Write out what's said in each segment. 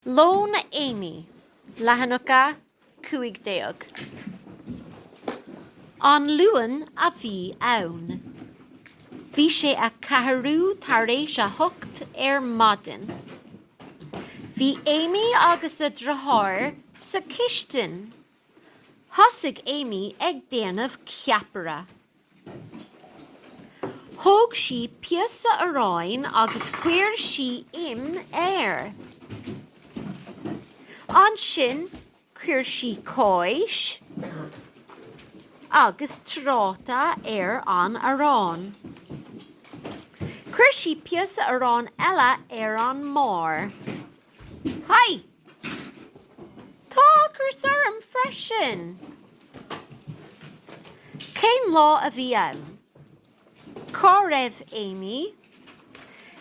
Lón Amy, leathanach a 15. An Luan a bhí ann. Bhí sé a ceathrú tar éis a hocht ar maidin. Bhí Amy agus a deartháir sa chistin. Thosaigh Amy ag déanamh ceapaire. Thóg sí píosa aráin agus chuir sí im air. Ansin chuir sí cáis agus tráta ar an arán. Chuir sí píosa aráin eile ar an mbarr. Haigh! Tá ocras orm freisin! Cén lá a bhí ann? Cá raibh Amy?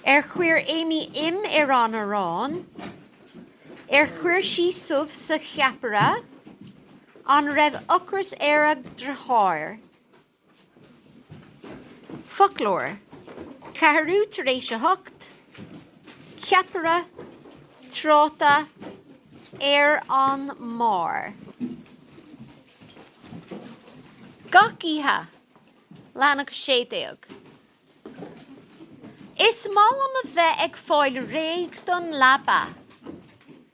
Ar chuir Amy im ar an arán? Ar chuir sí subh sa cheapaire? An raibh ocras ar a deartháir? Foclóir, ceathrú tar éis a hocht, ceapaire, tráta, ar an mbarr. Gach oíche, leathanach a sé déag. Is maith liom a bheith ag fáil réidh don leaba.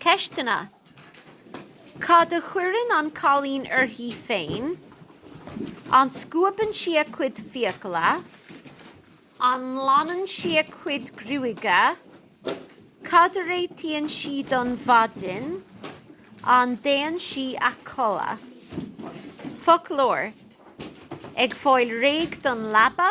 Ceisteanna, Cad a chuireann an cailín uirthi féin? An scuabann sí a cuid fiacla? An nglanann sí a cuid gruaige? Cad a réitíonn sí don mhaidin? An dtéann sí a chodladh? Foclóir, ag fáil réidh don leaba.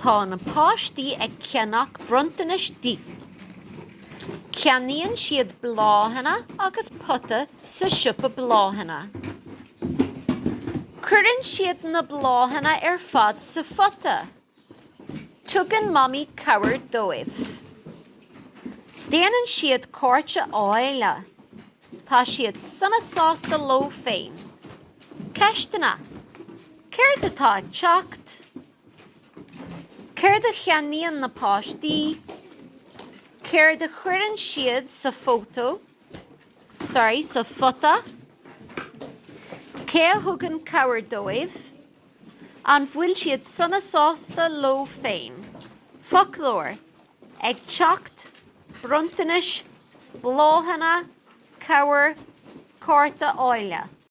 Tá na páistí ag ceannach bronntanais di. Ceannaíonn siad bláthanna agus pota sa siopa bláthanna. Cuireann siad na bláthanna ar fad sa phota. Tugann Mamaí cabhair dóibh. Déanann siad cárta álainn. Tá siad sona sásta leo féin. Ceisteanna, Céard atá ag teacht? Céard a cheannaíonn na páistí? Céard a chuireann siad sa photo, sorry, sa phota? Cé a thugann cabhair dóibh? An bhfuil siad sona sásta leo féin? Foclóir, Ag teacht, bronntanais, bláthanna, cabhair, cárta álainn.